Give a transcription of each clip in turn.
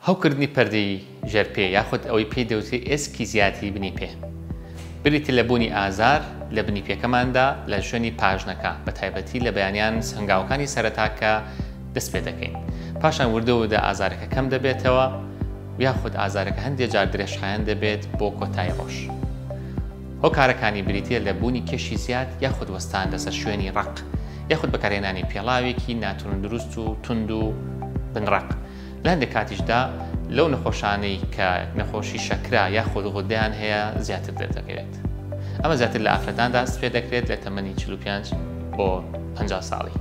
هەوکردنی پەردەی ژێر پێ یاخود ئەوەی پێی دەوترێت ئێسکی زیاتری بنی پێ بریتە لە بوونی ئازار لە بنی پێکەماندا لە شوێنی پاژنەکە بە تایبەتی لە بەیانیان هەنگاوەکانی سەرەتا کە دەست پێ دەکەین پاشان وردە وردە ئازارەکە کەم دەبێتەوە یاخود ئازارەکە هەندێک جار درێژخایەن دەبێت بۆ کۆتایی ڕۆژ هۆکارەکانی بریتە لە بوونی کێشی زیاد یاخود وەستان لەسەر شوێنی ڕق یاخود بەکارهێنانی پێڵاوێکی ناتون دروست و تونند و بنڕق لە هەندێک کاتیشدا لەو نەخۆشانەی کە نەخۆشی شەکرا یاخود غودیان هەیە زیاتر دەردەکەوێت ئەمە زیاتر لە ئافرەتان داست پێ دەکرێت لە تەمەنی 45 بۆ 50 ساڵی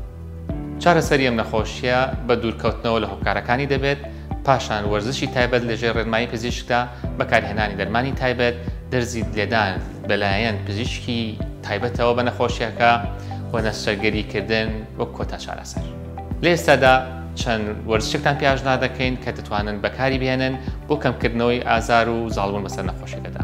چارەسەری ئەم نەخۆشییە بە دوورکەوتنەوە لە هۆکارەکانی دەبێت، پاشان وەرزشی تایبەت لەژێر ڕێنمایی پزیشکدا، بەکارهێنانی دەرمانی تایبەت، دەرزی لێدان لەلایەن پزیشکی تایبەتەوە بە نەخۆشییەکە و نەشتەرگەریکردن وەک کۆتا چارەسەر. لە ئێستادا چەند وەرزشێکتان پێاشنادەکەین کە دەتوانن بەکاریبهێنن بۆ کەمکردنەوەی ئازار و زاڵبوون بەسەر نەخۆشیەکەدا.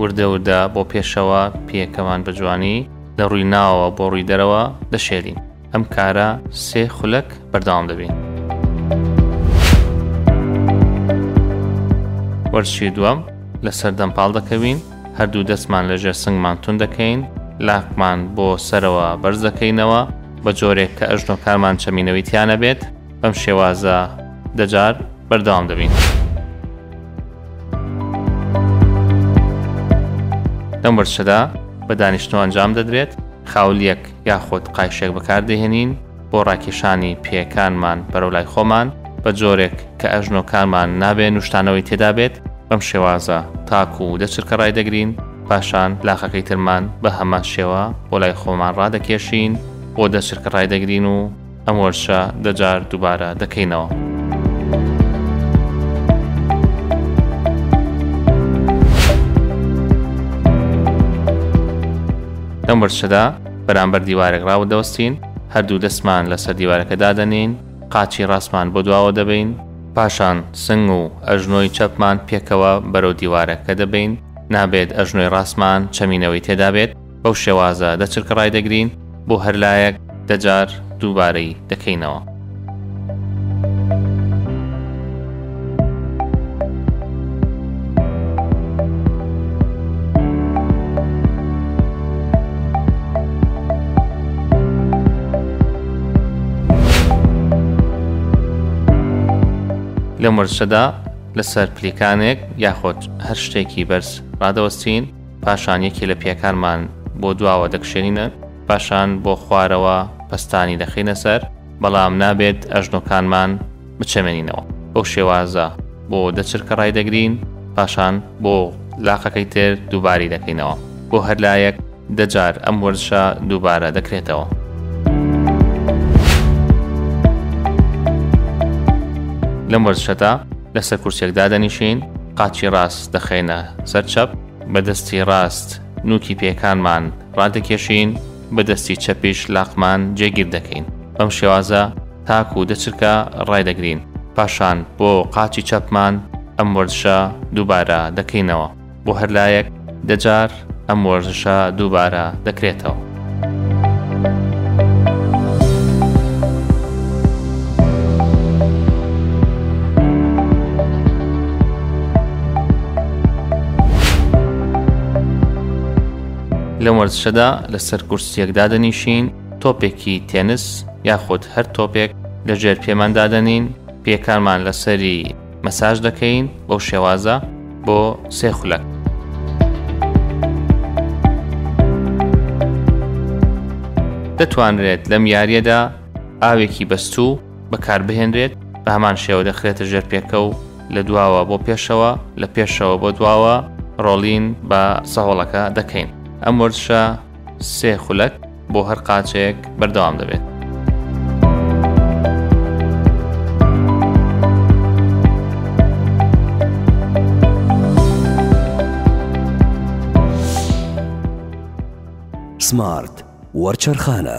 وردە وردە بۆ پێشەوە پێکەمان بە جوانی لە ڕووی ناوەوە بۆ ڕووی دەرەوە دەشێلین ئەم کارە سێ خولەک بەردەوام دەبین وەرزشی دووەم لەسەر دەمپاڵ دەکەوین هەردوو دەستمان لە ژێر سنگمان تون دەکەین لاقمان بۆ سەرەوە بەرز دەکەینەوە بە جۆرێک کە ئەژنۆکارمان چەمینەوەی تیانە بێت بەم شێوازە دەجار بەردەوام دەبین. لەم وەرچەدا بە دانیشتۆ ئەنجام دەدرێت خاولیەک یاخود قایشێک بەکاردەهێنین بۆ ڕاکێشانی پێەکانمان بەرەو لای خۆمان بە جۆرێک کە ئەژنۆکانمان نابێ نوشتانەوەی تێدا بێت بەم شێوازە تاکو و دەچرکە ڕای دەگرین پاشان لاخەکەی ترمان بە هەمان شێوە بۆ لای خۆمان ڕادەکێشین بۆ دەچرکە ڕای دەگرین و ئەم وەرشە دە جار دوبارە دەکەینەوە. لەم وەرشەدا بەرامبەر دیوارێک ڕاوە دەوەستین هەردوو دەستمان لەسەر دیوارەکە دادەنین قاچی ڕاستمان بۆ دواوە دەبین پاشان سنگ و ئەژنۆی چەپمان پێکەوە بەرەو دیوارەکە دەبین نابێت ئەژنۆی ڕاستمان چەمینەوەی تێدابێت بەو شێوازە دە چرکە ڕایدەگرین بۆ هەر لایەک دە جار دووبارەی دەکەینەوە. لەم وەرزشەدا لەسەر پلیکانێک یاخۆد هەر شتێکی بەرز ڕادەوەستین پاشان یەکێ لە پێکانمان بۆ دواوە دەکشێنینە، پاشان بۆ خوارەوە پەستانی دەخەینە سەر، بەڵام نابێت ئەژنۆکانمان بچەمێنینەوە. بەو شێوازە بۆ دە چرکە ڕایدەگرین، پاشان بۆ لاقەکەی تر دووبارەی دەکەینەوە. بۆ هەر لایەک دە جار ئەم وەرزشە دووبارە دەکرێتەوە. لەم وەرزشەدا لەسەر کورسێک دادەنیشین قاچی ڕاست دەخەینە سەر چەپ بەدەستی ڕاست نوکی پێکانمان ڕادەکێشین بەدەستی چەپیش لاقمان جێگیر دەکەین بەم شێوازە تاک و دەچرکە ڕایدەگرین پاشان بۆ قاچی چەپمان ئەم وەرزشە دووبارە دەکەینەوە بۆ هەر لایەک دەجار ئەم وەرزشە دووبارە دەکرێتەوە. لە وەرزشەدا لەسەر کورسیەکدا دەنیشین تۆپێکی تێنس یاخود هەر تۆپێک لە ژێر پێماندادەنین پێکانمان لەسەری مەساج دەکەین بەو شێوازە بۆ سێ خولەک دەتوانرێت لەم یاریەدا ئاوێکی بەستوو بەکاربهێنرێت بە هەمان شێوە دەخرێتە ژێر پێکە و لە دواوە بۆ پێشەوە لە پێشەوە بۆ دواوە ڕۆڵین بە سەهۆڵەکە دەکەین ئەم وەرزشە سێ خولەک بۆ هەر قاچێک بەردەوام دەبێت. سمارت وەرچەرخانە.